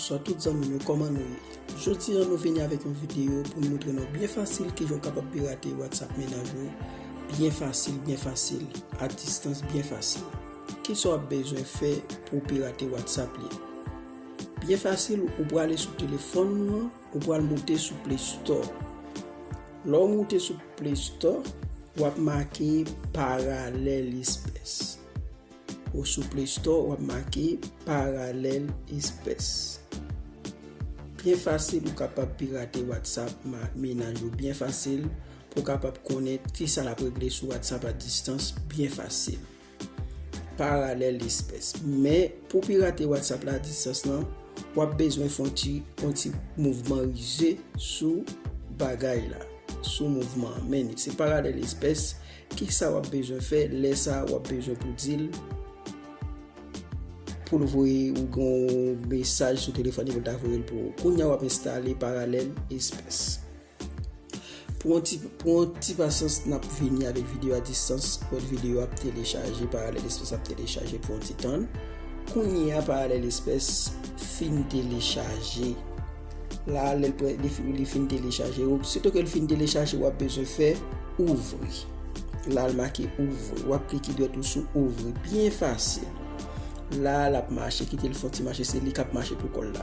Bonsoir tout zanmi nou koman nou ye? Jodi an nou vini avèk yon video pou nou moutre nou byen fasil ki jan w kapab pirate WhatsApp menaj ou byen fasil byen fasil a distans byen fasil. Ki sa w ap bezwen fè pou w pirate WhatsApp li? Byen fasil, ou prale sou telefòn ou an, ou pral moute sou Play Store. Lè w moute sou Play Store, w ap make Parallelisps. Ou sou Play Store, w ap make Parallelisps. Byen fasil, ou kapab pirate WhatsApp mennaj ou byen fasil pou w kapab konnen ki sa l ap regle sou WhatsApp a distans byen fasil. Paralèl espès. Men, pou pirate WhatsApp la a distans lan, w ap bezwen fè yon ti yon ti mouvman rize sou bagay la, sou mouvman an. Men, se paralèl espès. Ki sa w ap bezwen fè? Lè sa a, w ap bezwen pou di l pou l voye ou yon mesaj sou telefòn li pou l ta voye l pou ou. Kounye a, w ap enstale paralèl espès. Pran ti pasyans nap vini avèk video a distans Pòt video ap telechaje Parallel Express ap telechaje pran ti tann Kounye a Parallel Express fin telechaje La lèl pre li fin telechaje Sito ke li fin telechaje wap bezwen fè ouvri La l make ouvri wap klike dwèt ou sou ouvri byen fasil La lap mache kite l fon ti mache se li kap mache pou kòl la.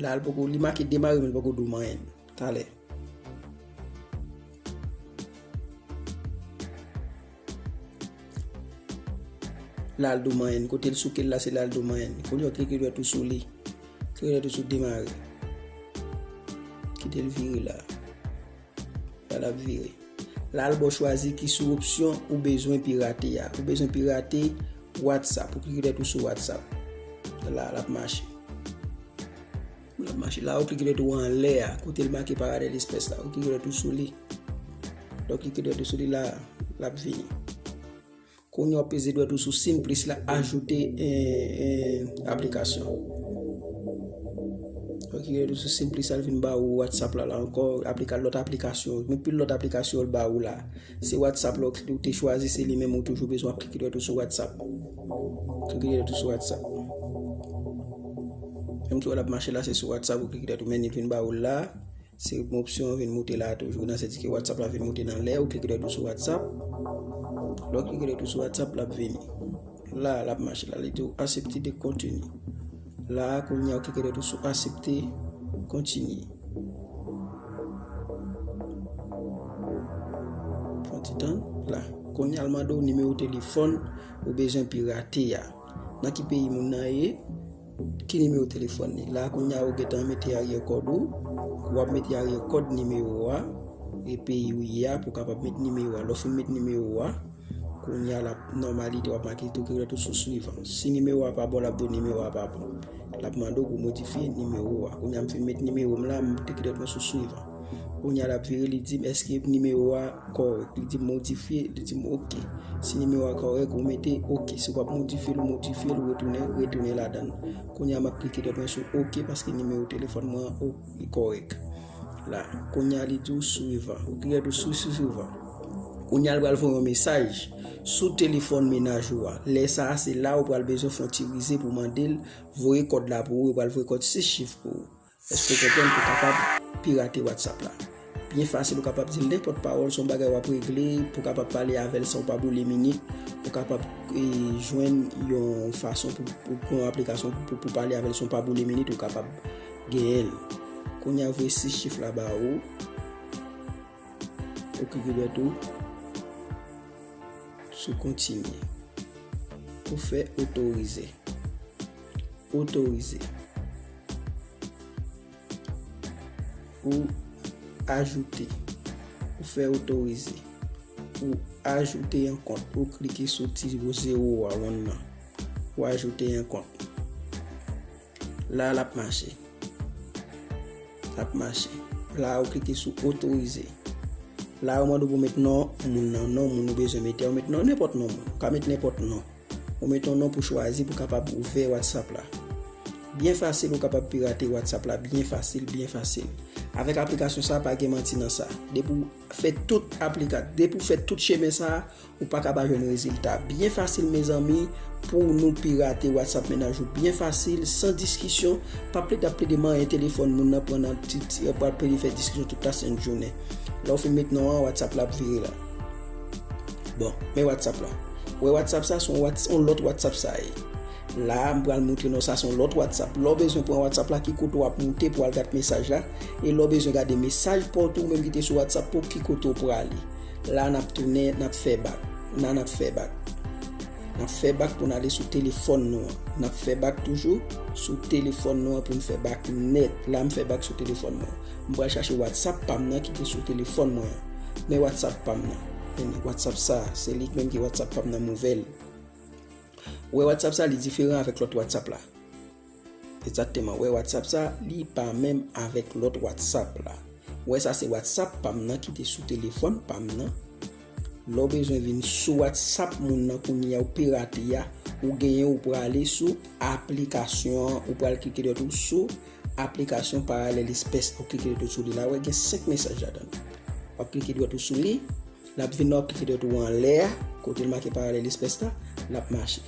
La l poko, li make demare men l poko di w manyen. Talè. La l di w manyen. Kote l souke l la se la l di w manyen. Koulye w klike dwèt ou sou li. Klike dwèt ou sou demare. Kite l vire la. Sa lap vire. La l ba w chwazi ki sou opsyon ou bezwen pirate a. Ou bezwen pirate WhatsApp. Ou klike tèt ou sou WhatsApp. La lap mache. Lap mache. La ou klike tèt ou an lè a. Kote l make paradè lespès la. Ou klike tèt ou sou li. Lè ou klike tèt ou sou li la, lap vini. Kounye a w peze dwèt ou sou sin plis la ajoute aplikasyon. Ok dwèt ou sou sin plis la l vin ba ou WhatsApp la la ankò, aplika lòt aplikasyon, nou pil lòt aplikasyon yo l ba ou la. Se WhatsApp la ou te chwazi se li menm ou toujou bezwen ap klike dwèt ou sou WhatsApp. Klike dwèt ou sou WhatsApp. Menm ti wè l ap mache la se sou WhatsApp ou klike dwèt ou men li vin ba ou la. Se bon opsyon an vin moute la toujou nan sèdike WhatsApp la vin moute nan lè ou klike dètou sou WhatsApp. Lò klike dètou sou WhatsApp la vini. La la mache la li tou asepte de kontini. La konya ou klike dètou sou asepte kontini. Fon ti tan la. Konya alman do nimewo telefon ou bezwen pirate ya. Nan ki peyi moun nan ye? Ki nimewo telefòn li? La kounye a ou gentan mete aryè kòd ou. Ou ap mete aryè kòd nimewo a e peyi ou ye a pou kapab met nimewo a. Lò fin met nimewo a, kounye a l ap nòmalite w ap make tou ki rèt ou sou swivan. Si nimewo a pa bon l ap di w nimewo a pa bon. L ap mande w pou w modifye nimewo a. Kounye a m fin met nimewo m la, m tou ki rèt mwen sou swivan. Kounya lap vire li dim eske nimewo a korèk li dim modifye li dim ok si nimewo a korèk ou mete ok si wap modifye l ou modifye l ou retounen retounen ladan kounya map klike dèt mwen sou ok paske nimewo telefòn mwen an li korèk la kounya li di ou swivan ou klike sou sou swivan kounya l pral voye yon mesaj sou telefòn menaj ou a lè sa se la ou pral bezwen fon ti rize pou mandel voye kòd la pou ou yo pral voye kòd 6 chif pou ou Eske gentan pou kapab pirate WhatsApp la? Byen fasil ou kapab dil nenpòt pawòl son bagay wap regle pou kapab pale avèl san ou pa boule minit ou kapab jwenn yon fason pou pran aplikasyon pou pale avèl san ou pa boule minit ou kapab genyenl kounya voye 6 chif la ba ou ou klike dwèt ou sou kontinye pou fè otorize. otorize ou ajoute ou fè otorize ou ajoute yon kont ou klike sou ti zero a wonn nan ou ajoute yon kont la l ap mache ap mache la ou klike sou otorize la ou mande pou met non moun nan non moun ou bezwen mete ou met non nenpòt non moun ou ka met nenpòt non Ou met yon non pou chwazi pou kapab ouvè WhatsApp la. Byen fasil ou kapab pirate WhatsApp la byen fasil byen fasil. Avèk aplikasyon sa pa gen manti nan sa. Depi ou fè tout aplika depi ou fè tout chemen sa ou paka pa jwenn rezilta. Byen fasil mezanmi pou nou pirate WhatsApp mennaj ou byen fasil san diskisyon pa plede ap plede manyen telefòn moun nan pran nan ti ti pral plede fè diskisyon tout lasent jounen. Lè ou fin met non an WhatsApp la ap vire la. Bon, men WhatsApp la. Wè WhatsApp sa son on lòt WhatsApp sa ye. La, m pral moutre nou sa son lòt WhatsApp. Lò bezwen pran WhatsApp la, ki kote w ap moute pou al gade mesaj la. E lò bezwen gade mesaj pa w tou menm ki te sou WhatsApp pou ki kote w prale. La n ap tounen, n ap fè bak. La n ap fè bak. N ap fè bak pou n ale sou telefòn nou an. N ap fè bak toujou sou telefòn nou an pou n fè bak nèt. La m fè bak sou telefòn nou an. M pral chache WhatsApp pa m nan ki te sou telefòn mwen an. Men WhatsApp pa m nan. Men WhatsApp sa a. Se li menm ki WhatsApp pa m nan m ouvè l. Ou wè WhatsApp sa a li diferan avèk lòt WhatsApp la. Egzakteman. Ou wè WhatsApp sa a li pa menm avèk lòt WhatsApp la. Ou wè sa se WhatsApp pa m nan ki te sou telefòn pa m nan. Lè ou bezwen vin sou WhatsApp moun nan kounye a ou pirate a, ou genyen ou prale sou aplikasyon an ou pral klike dwat ou sou Aplikasyon Paralèlis Pès ou klike dwèt sou li la wè gen 5 mesaj ladan l. Wap klike dwèt ou sou li, lap vin la wap klike dwèt ou anlè a kote l make Paralèlis Pès la, lap mache.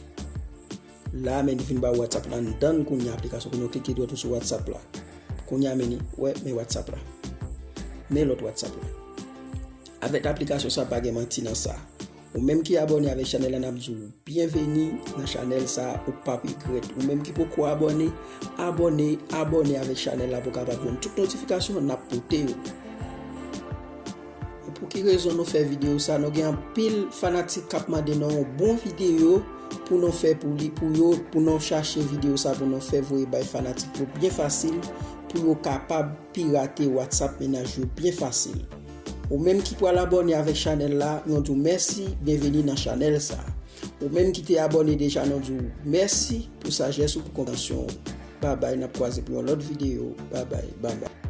La men li vin ba ou WhatsApp la anndan l kounya aplikasyon kounya w klike dwèt ou sou WhatsApp la. Kounya men li wè men WhatsApp la. Men lòt WhatsApp la. Avèk aplikasyon sa pa gen manti nan sa. Ou menm ki abòne avèk chanèl la nap di w byenveni nan chanèl sa ou pap regrèt ou menm ki poko abòne abòne abòne avèk chanèl la pou kapab jwenn tout notifikasyon nap pote yo pou ki rezon nou fè videyo sa nou gen anpil fanatik kap mande nou yon bon videyo pou nou fè pou li pou yo pou nou chache videyo sa pou nou fè voye bay fanatik yo byen fasil pou yo kapab pirate WhatsApp mennaj yo byen fasil. Ou menm ki pral abòne avèk chanèl la, nou di w mèsi, byenveni nan chanèl sa. Ou menm ki te abòne deja nou di w mèsi pou sajès ou pou konpreyansyon ou. Babay nap kwaze pou yon lòt videyo. Babay babay.